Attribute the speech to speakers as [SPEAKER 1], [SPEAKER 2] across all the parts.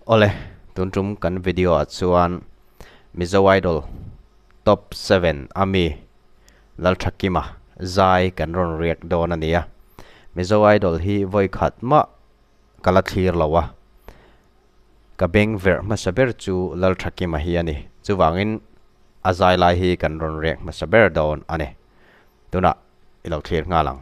[SPEAKER 1] Awle, tun tum kan video ah chuan Mizo Idol Top Seven a mi Lalthakim a zai kan rawn react dawn a ni a, Mizo Idol hi vawi khat mah ka la thlir lo a, ka beng verh hmasa ber chu Lalthakim a hi a ni, chuvangin a zai lai hi kan rawn react hmasa ber dawn a ni, tunah i lo thlir nghal ang.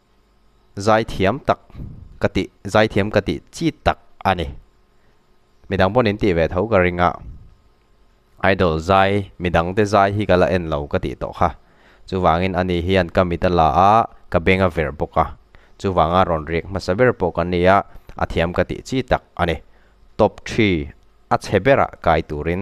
[SPEAKER 1] zai thiam tak ka tih zai thiam ka tih chit tak a ni midang pawn in tih ve tho ka ring a idol zai midang te zai hi ka la en lo ka tih tawh kha chuvangin ani hian ka mit a la a ka beng a verh bawk a chuvanga rawn riak hmasa ber pawh ka ni a a thiam ka tih chi tak a ni top three a chhe berah kai turin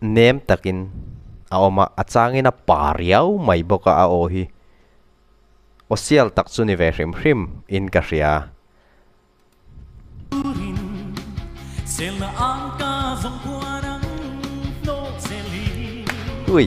[SPEAKER 1] nem takin a awm a, a changin a pa riau mai bawk a, a aw hi awsial tak chu ni ve hrim hrim in ka hria. Ui.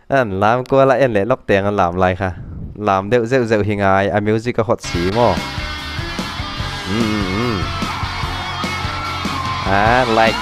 [SPEAKER 1] An lam kual a en leh lawk teng an lam lai kha. Lam deuh zeuh zeuh hi ngai a music a hot si maw? Ah like.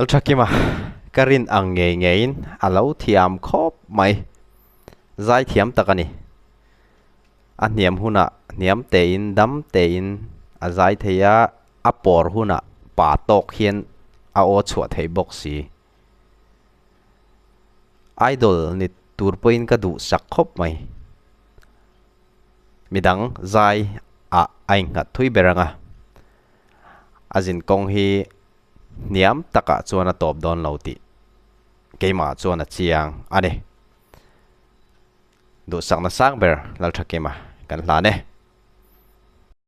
[SPEAKER 1] Lalthakim a ka rin ang ngei ngei in a lo thiam khawp mai zai thiam tak a ni a hniam hunah hniam te in dam te in a zai thei a a pawr hunah pa tawk hian a aw chhuah thei bawk si. Idol ni tur pawhin ka duh sak khawp mai. Midang zai ah a innghat thui ber ang a. A zin kawng hi hniam tak ah chuan a tawp dawn lo tih keimah chuan a chiang a ni. Duhsakna sang ber Laltha kema kan hlan e.